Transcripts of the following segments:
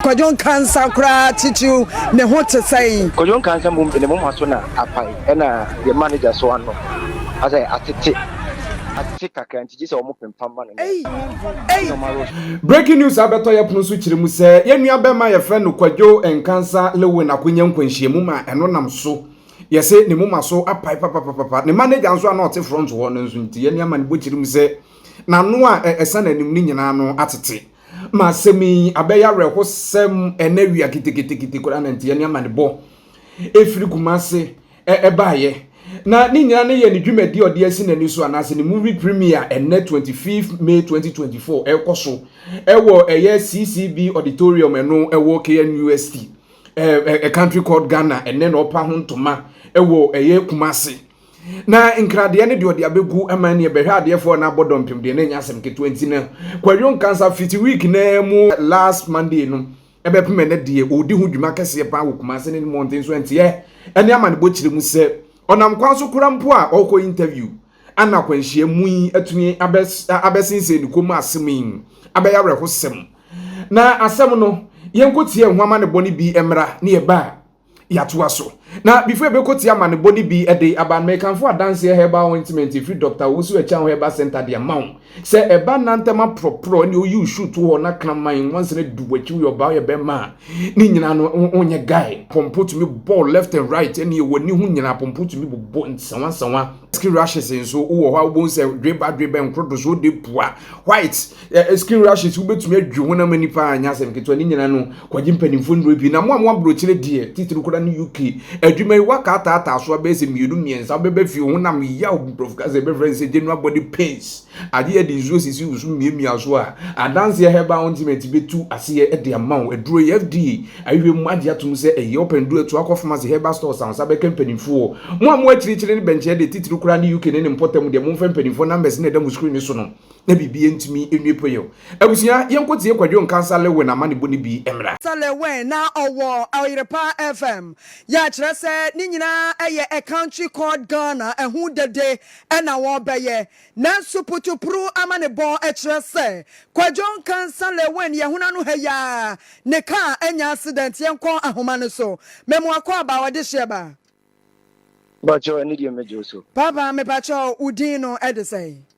Kwadwo Nkansah koraa titiriw ne ho te sɛn? Kwadwo Nkansah mmom de ne moma so na apae, ɛnna yɛn manager nso ano asɛ atete, atete kakra nti gye sɛ wɔpempam ma no nnɛ. Ei! Ei! Nneɛma rosɔ. Breaking news abɛtɔ yɛ pono so kyerɛ mu sɛ yɛn nua bɛma yɛfrɛ no Kwadwo Nkansah Lewin akonya nkwanhyiamu ma ɛno nam so yɛse ne moma so apae papapapapa. Ne manager nso a na ɔte front hɔ no nso nti yɛn nua ma no bɔ kyerɛ mu sɛ n'ano a ɛsan n'anim no nyinaa ano atete. Ma asɛm yi abɛyɛ awerɛhosɛm ɛnɛ wia ketekete koraa na nteɛ ne amanebɔ ɛfiri Kumase ɛbaeɛ na ne nyinaa ne yɛ ne dwumadi ɔde asi n'ani so anaasɛ ne movie premier ɛnɛ 25 May 2024 ɛkɔ so ɛwɔ ɛyɛ CCB auditorium ɛno ɛwɔ KNUST a country called Ghana ɛnɛ na ɔpa ho ntoma ɛwɔ ɛyɛ Kumase Na nkradeɛ no deɛ ɔde abɛgu ma neɛ bɛhwɛ adeɛfoɔ na abɔ dɔmpem deɛ na ɛnyɛ asɛm ketewa nti no kwadwo nkansa fiti week na mu last monday no ɛbɛpem ɛnɛ deɛ ɔredi ho dwuma kɛseɛ paa wɔ kumase ne mmɔnten so ɛnteɛ ɛne amanebɔ kyerɛ mu sɛ ɔnam kwan so kora mpo a ɔkɔ interview ana akwanhyia mu yi atumi abɛsensɛn ne kɔn mu asɛm yi abɛyɛ awerɛhosɛm na asɛm no yɛnkɔtie ɛho amanebɔ no bi mmra ne ɛba a Yɛatoa so. Na before yɛbɛkɔ tie amanebɔ no bi de aba no, mekamfo adanseɛ herbal ointment ɛfiri Dɔkta Owusu Akyang Herbal Centre de ama wo. Sɛ ɛba nna ntɛm aprɔprɔ ɛne woyi wo shoe to hɔ na kraman nwansena adu w'akyi woyɛ ɔbaa woyɛ bɛrima a, ne nyinaa no wonyɛ guy. Pɔmpɔ tumi bɔ wo left and right ɛne w'ani ho nyinaa pɔmpɔ tumi bobɔ nsawansawa. Skin rashes nso wowɔ hɔ a wobɛhu sɛ dweba dweba nkrodosoɔ de pua white. Ɛ skin rashes wobɛtumi adwi honam ani paa nyɛ asɛm ketewa ne nyina no kwagye mpanimfoɔ nnuro pii na mo a mo aborɔkyerɛ deɛ titiri koraa ne UK adwuma yi waka ataataa so abɛyɛ sɛ mmienu mmiɛnsa wobɛbɛ fie honam yaw nkurɔfo ka sɛ ɛbɛfrɛ no sɛ general body pains agye yɛde nsuo sisi wo so mmiamia so a adanseɛ herbal ointment bɛtu aseɛ de ama wo aduro yi FDA ahwehwɛ mu agye atom sɛ ɛyɛ ɔpɛn duro ɛtoa kɔ pharmacy herbal stores a ɔsa bɛka mpanimfoɔ mo a mo akyirikyiri ne bɛnkyerɛ deɛ titiri koraa ne UK ne ne mpɔtam deɛ momfɛ mpanimfoɔ numbers na ɛda mo screen so no na biribi ntumi nwie pɛyɛ o. Abusua, yɛnkɔ tie Kwadwo Nkansah Lewin amanebɔ no bi mmra. Sir Lewin na ɔwɔ Oyrepa FM. Yɛakyerɛ sɛ ne nyinaa yɛ A Country Called Ghana ho dede na wɔbɛyɛ. Nanso Putupuruw amanebɔ kyerɛ sɛ Kwadwo Nkansah Lewin yɛ hona no ha yi ara ne kaa anya accident. Yɛnkɔ ahoma no so. Memoakɔaba ɔdehyeɛ ba. Mpakyɛw ɛne deɛ mɛgye wo so. Papa mepakyɛw wo din no de sɛn?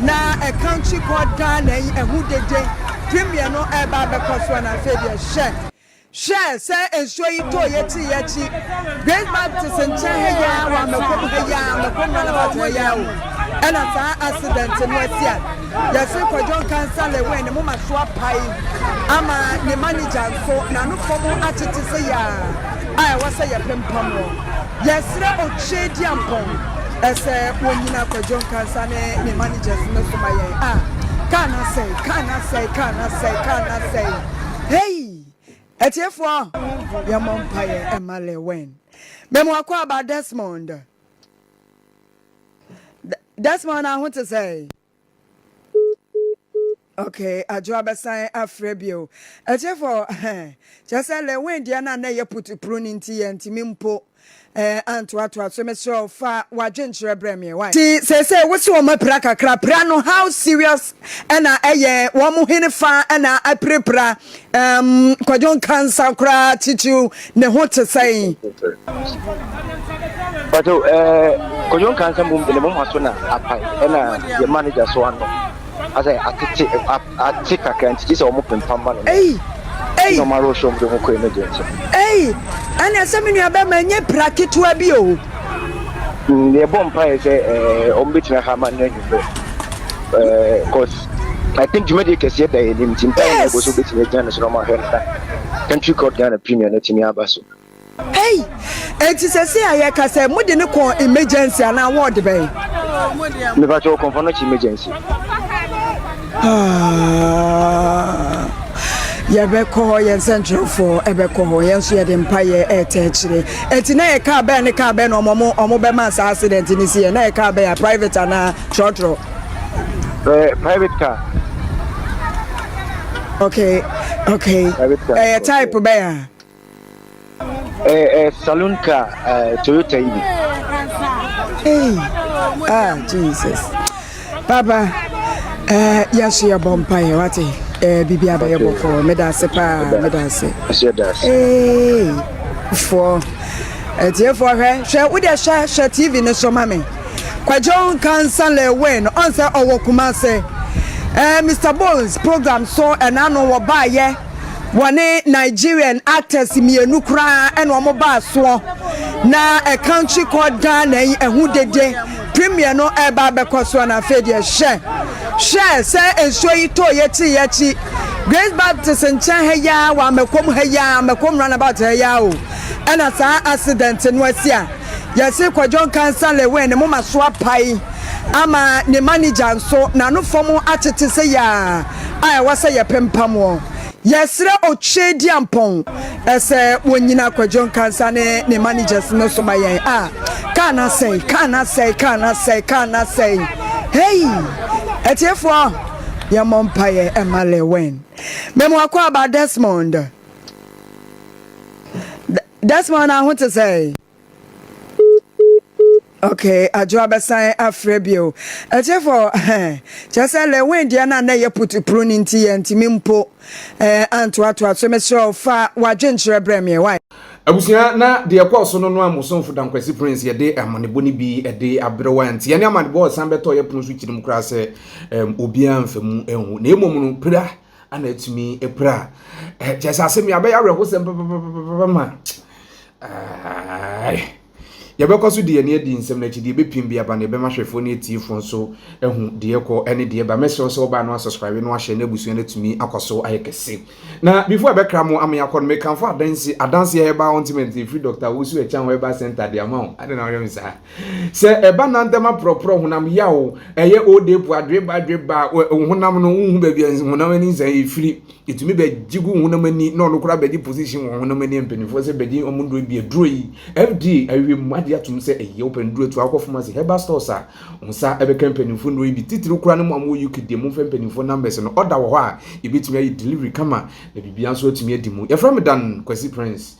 na ɛkankyi kɔ daa na ɛyi ɛho dede twe mmiɛno ɛɛba abɛkɔ soɔ na afei deɛ hwɛ. Hwɛ sɛ nsuo yi tɔɔ yɛti yɛakyi Grace Baptist nkyɛn ha yi ara wɔ Amɛkom ha yi ara Amɛkom roundabout ha yi ara o ɛna saa accident no asi a yɛse Kwadwo Nkansah Lewin ne moma so apae ama ne manager nso n'ano fam akyekye se yaa a ɛwɔ sɛ yɛpempamoɔ. Yɛsrɛ Okyerediampɔn sɛ wɔnyina Kwadwo Nkansah ne ne managers no so ma yɛn. Ah! Kaa no asɛe, kaa no asɛe, kaa no asɛe, kaa no asɛe. Hei! Atiefoɔ, yɛmmɔ mpaeɛ mma Lewin. Me mo akwaaba Desmond. Desmond, aho te sɛn? Okay, adwo abɛsan afrɛ bio. Ɛkyefo, kyerɛ sɛ Lewin deɛ na na ɛyɛ putupuru no nti yɛntumi mpo eh, antoatoa so. Mesrɛ wo fa w'adwenkyerɛ brɛ me why. Ti seesei wo se wɔn apira kakra, pira no how serious ɛna ɛyɛ wɔn hene fa ɛna apirapira Umm kwadwo nkansa koraa kyikyiw ne ho te sɛn. Pacho eh kwadwo nkansa mum de ne mom aso na apae ɛna yɛ manager so ano asɛ atete ate kakra nti gye sɛ wɔn pempa ma no ei ei na wɔn arɔ show mu de ho kɔɛ no deɛ nti ei ɛna sɛ me nua bɛma ɛnyɛ pira ketewa bi o. Mm, yɛbɔ mpaeɛ sɛ ɛɛ wɔn bɛtumi aha ama no anwummerɛ ɛɛ cause I think dwumadie kɛseɛ da yɛn anim nti mpaeɛ na yɛbɔ so bɛtumi agyina no so na wɔn ahwɛ no na country court Ghana premier no atumi aba so. Hey, enti sɛsɛ a yɛka sɛ mode no kɔɔ emergency anaa wɔɔde bɛn? Mepakyɛ ɔkɔmfɔ no kye emergency. Yɛbɛkɔ hɔ, yɛn sɛnkyerɛwfoɔ bɛkɔ hɔ, yɛn nso yɛde mpaeɛ ɛretɛ akyire. Ɛti na yɛ kaa bɛn ne kaa bɛn na ɔmo ɔmo bɛma saa accident ne si yɛ, na yɛ kaa bɛn a private anaa trɔtrɔ? Ɛɛ eh, private car. Okay, okay. Private car. Ɛyɛ eh, type bɛn a? Eh eh saloon car eh Toyota yi bi. Hey ah Jesus papa eh yɛso yɛbɔ mpaeɛ wate eh bibi abɛyɛ bɔkɔɔ meda ase paa meda ase. Hey foɔ ɛtiefoɔ eh, hwɛ hwɛ wode hwɛ hwɛ TV no so ma me kwadwo kansa lɛwɛn no ɔnsɛ ɔwɔ kuma ase eh Mr Bones program so ɛna no wɔbaayɛ. Wɔne Nigerian actors mmienu koraa na wɔbaa soɔ na a country called Ghana yi ɛho dede premiere no ɛreba abɛkɔ soɔ na afei deɛ hyɛ hwɛ sɛ nsuo yi tɔ yɛkyi yɛkyi Grace Baptist nkyɛn ha yi ara wɔ Amɛkɔm ha yi ara Amɛkɔm runabout ha yi ara o ɛna saa accident no asi a yɛse Kwadwon Kansa Lewin ne moma so apae ama ne manager nso n'ano fam akyekye sɛ yaa a ɛwɔ sɛ yɛpempam wɔn. Yɛsrɛ Otwedeampɔn sɛ wɔnnyina Kwadwo Nkansah ne ne managers no so ma yɛn. Ah, kaa no asɛe, kaa no asɛe, kaa no asɛe, kaa no asɛe. Hei! Atiefoɔ, yɛmmɔ mpaeɛ mma Lil Wayne. Me mo akɔ aba Desmond. Desmond, na ho te sɛn? Okay, adwo abɛsan afrɛ bio. Ɛkyefo, kyerɛ sɛ Lewin deɛ na na ɛyɛ putupuru no nti yɛntumi mpo eh, antoatoa so. Mesrɛ wo fa w'adwenkyerɛ brɛ me wae. Abusua, na deɛ ɛkɔɔ so no no a mo somfo Dankwasi Prince yɛde amanebɔ no bi de abrɛ wo anti ɛne amanebɔ a ɛsan bɛtɔɔ yɛ pono so kyiri mu koraa sɛ um, obiara mfa mu nhu. Na mmom no, pira ana atumi apira kyɛ sɛ asɛm yi abɛyɛ awerɛhosɛm papapapa ma yɛbɛkɔ so de yɛn adi nsɛm no akyi deɛ ɛbɛpim bi aba no yɛbɛma hwɛfoɔ ne atiefoɔ nso ahu deɛ kɔ ne deɛ ba mɛsrɛ sɛ wobaa no asubscribe no ahyɛ no abusua no atumi akɔ so ayɛ kɛse na before ɛbɛkra mo ama yɛakɔ no mekamfo adanse adanse herbal ointment ɛfiri dr wosu ɛkyɛn herbal center de ama wo ade na wɔyɛ me saa Sɛ ɛba nantam aprɔprɔ honam yaw o, ɛyɛ old age po adweba adweba a, wo wo honam no wonhu baabi a nsi honam ani nsa yɛ firi. Ɛtumi bɛgye gu wo honam ani na ɔno koraa bɛgye position wɔ honam ani mpanimfoɔ sɛ bɛgye wɔn nnuro bi. Aduro yi, FDA ahwehwɛ mu agye atom sɛ ɛyɛ wopɛ nnuro tu a wokɔ pharmacy, herbal stores a, wo nsa bɛka mpanimfoɔ nnuro yi bi. Titiriw koraa no mo a mowɔ UK deɛ momfrɛ mpanimfoɔ numbers no, order wɔ hɔ a yɛbɛtumi ayɛ delivery kama na biribiara nso atumi adi mu. Yɛfrɛ me Dan Kwasi Prince.